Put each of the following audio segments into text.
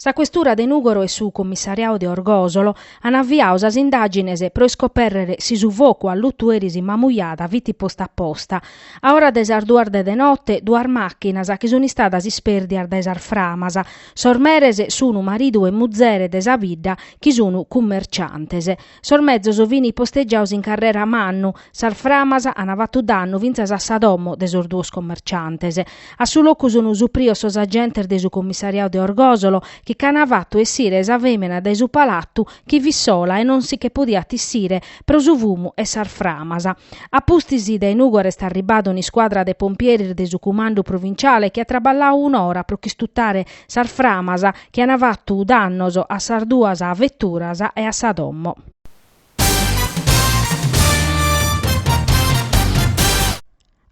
Sa questura de Nùgoro e su commissariau de Orgòsolo an aviau sas indàgines pro iscopèrrere si su focu allutu eris in Mamujada fit postu a posta. A ora de sas duas de note, duas màchinas sunt istadas ispèrdias dae sas framas. Sos meres sunt maridu e muzere de sa bidda chi sunt cummerciantes. Sos mezos fini postegiados in carrera Mannu, sas framas an fattu dannu fintzas a sa domo de sos duos commerciantes. A su locu sun suprios sos agentes de su commissariadu de Orgosolo chi ch'an fattu essire sa femina dae su palattu chi fit sola e non si che podiat issire pro su fumu 'e sas framas. A pustis dae Nugoro est arribbada un'iscuadra de pompieres de su cumandu provinciale chi at traballau un'ora pro ch'istutare Sas framas chi an fatu dannos a sas duas veturas e a sa domo.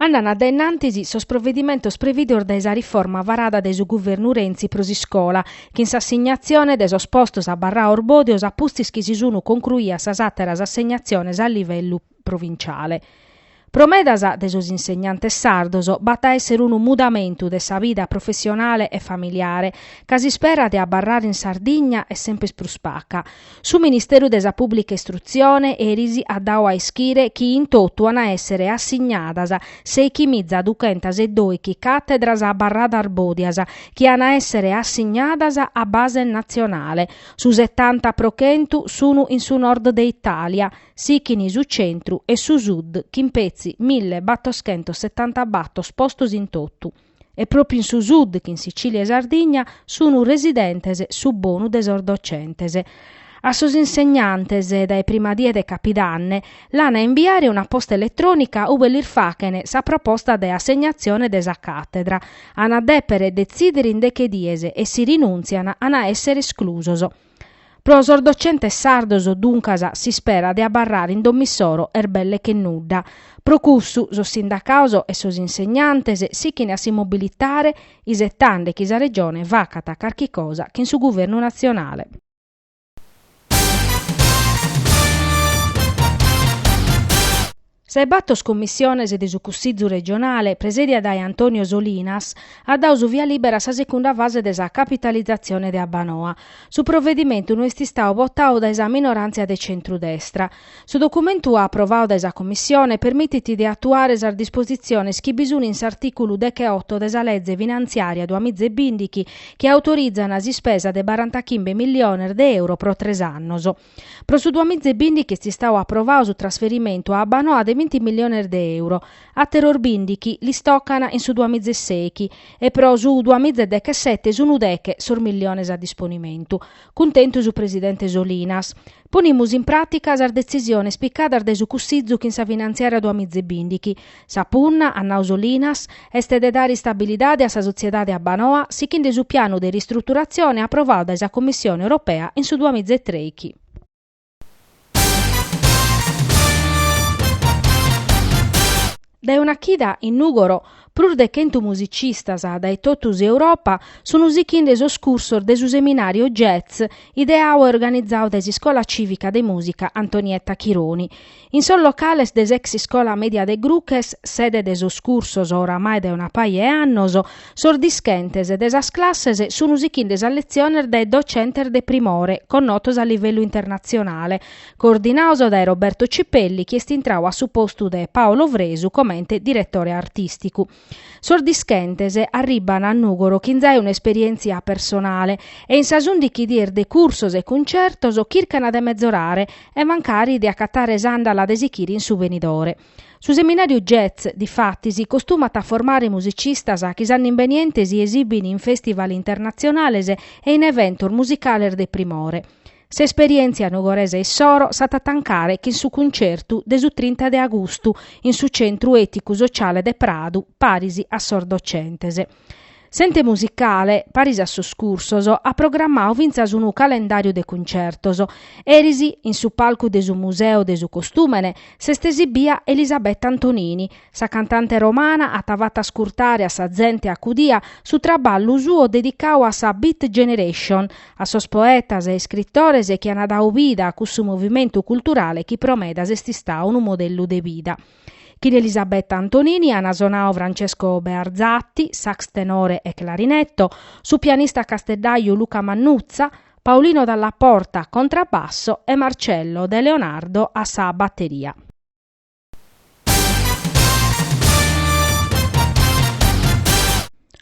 Andana dae innantis sos provedimentos previdos dae sa riforma varada dae su guvernu Renzi pro s'iscola, chin s'assignatzione de sos postos abarrados bòdios a pustis chi si sun concruias sas àteras assegnaziones a livellu provinciale. Pro medas de sos insegnantes sardos b'at a èssere unu mudamentu de sa vida professionale e familiare, ca s'ispera de abarrare in Sardigna est semper prus paca. Su Ministeru de sa Pùblica Istrutzione eris at dadu a ischire chi in totu an a èssere assignadas sèighi miza duchentas e doighi càtedras abarradas bòdias chi an a èssere assignadas a base natzionale, su setanta pro chentu sun in su Nord de Itàlia, Sichini su centru e su sud chin petzi mille battoschentos setanta battor postos in totu, e propriu in su sud chin Sicilia e Sardigna sunu residentes su bonu de sos docentes. A sos insegnantes dae prima die de capidanne l'an a imbiare una posta eletrònica ube lis faghen sa proposta de assegnatzione de sa càtedra. An a dèpere detzìdere in deche dies e si rinùntzian an a èssere esclusos. Pro sos docentes sardos, duncas, s'ispera de abarrare in domo issoro est belle che nudda. Pro cussu, sos sindacados e sos insegnantes sichene a si mobilitare isetande chi sa Regione facat carchi cosa chin su Guvernu natzionale. Sa 'e bator cummissiones de su Cussizu regionale, presèdia dae Antonio Solinas, at dadu su via libera a sa secunda fase de sa capitalizatzione de Abbanoa. Su provedimentu no est istadu botadu dae sa minoràntzia de centru-destra. Su documentu aprovadu dae sa Cummissione permitit de atuare sas dispositziones chi bi sun in s'artìculu dech'e-oto de sa Leze Finantziària duamizebìndighi chi autorizan s'ispesa de barantachimbe milliones de euro pro tres annos. Pro su duamiza e bìndichi est istau aprovau su trasferimentu a Abbanoa de binti milliones de euro, àteros bìndichi lis tocant in su duamiza e sèichi e pro su duamiza e dechesete sunt deche sos milliones a disponimentu. Cuntentu su presidente Solinas. Ponimus in pràtica sas detzisiones picadas dae su Cussizu chin sa finantziària duamiza e bìndichi, Sa punna, at nau Solinas, est de dare istabilidade a sa sotziedade Abbanoa sichinde su pianu de ristruturatzione aprovadu dae sa Commissione Europea in su duamiza e trèichi. Dae una chida in Nùgoro, prus de chentu musicistas dae totu s'Europa sunt sichinde sos cursos de su seminàriu Jazz ideau e organizau dae s'Iscola Cìvica de Mùsica Antonietta Chironi. In sos locales de s'ex Iscola Media de Gruches, sede de sos cursos oramai dae una paja 'e annos, sos dischentes de sas classes sun sichinde sas letziones dae docentes de primore, connotos a livellu internatzionale, coordinaos dae Roberto Cipelli chi est intrau a su postu de Paolo Fresu comente diretore artìsticu. Sos dischentes arribbant a Nùgoro chin zai un'esperièntzia personale e in sas undichi dies de cursos e cuntzertos chircant de mezorare e mancari de acatare s'àndala de sichire in su benidore. Su seminàriu Jazz, difatis, costumat a formare musicistas chi s'annu imbeniente si esibint in fèstival internatzionales e in eventos musicales de primore. S'esperièntzia nugoresa issoro s'at a tancare chin su cuncertu de su trinta de agustu in su Centru Èticu Sociale de Pradu paris a sos docentes. S'ente musicale, paris a sos cursos, at programmau fintzas unu calendàriu de cuncertos. Eris, in su palcu de su Museu de su Costùmene, s'est esibia Elisabetta Antonini, Sa cantante romana at fatu ascurtare a sa zente acudia su traballu suo dedicau a sa Beat Generation, a sos poetas e iscritores chi an dau vida a cussu movimentu culturale chi pro medas est istau unu modellu de vida. Chin Elisabetta Antonini an sonau Francesco Bearzatti, sax tenore e clarinetto, su pianista casteddaju Luca Mannuzza, Paolino Dalla Porta, contrabbasso, e Marcello De Leonardo a sa batteria.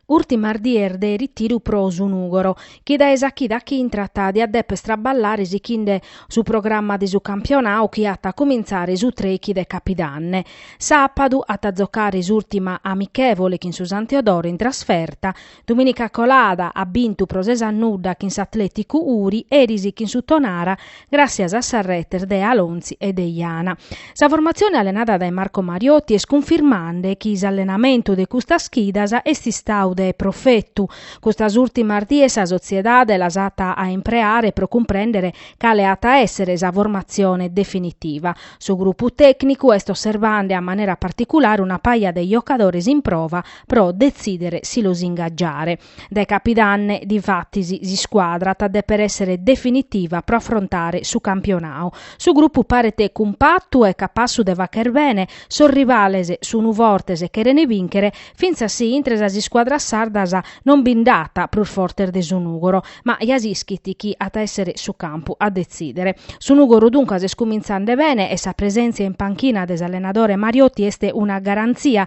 Ùrtimas dies de ritiru pro su Nùgoro, chi dae sa chida chi intrat diat dèpere traballare sichinde su programma de su campionau chi at a cumintzare su trèichi de Capidanne. Sàpadu at a giocare s'ùrtima amichèvole chin su San Teodoro in trasferta, Dumìnica colada at bintu pro ses a nudda chin s'Atlèticu Uri, eris chin su Tonara, gràssias a sas retes de Alonzi e de Iana. Sa formatzione allenada dae Marco Mariotti est cunfirmande chi s'allenamentu de custas chidas est istau de profetu. Custas ùrtimas dies sa sotziedade las at a impreare pro cumprèndere cale at a èssere sa formatzione definitiva. Su grupu tècnicu est osservande a manera particulare una paja de jocadores in prova, pro detzìdere si los ingagiare. Dae Capidanne, difatis, s'iscuadra at dèpere èssere definitiva pro afrontare su campionau. Su grupu paret cumpatu e capassu de fàghere bene, sos rivales sunt fortes e cherent bìnchere, fintzas si intre sas iscuadras sardas non bi nd'at prus fortes de su Nùgoro, ma ja s'ischit chi at a èssere su campu a detzìdere. Su Nùgoro duncas est cumintzande bene e sa presèntzia in panchina de s'allenadore Mariotti est una garantzia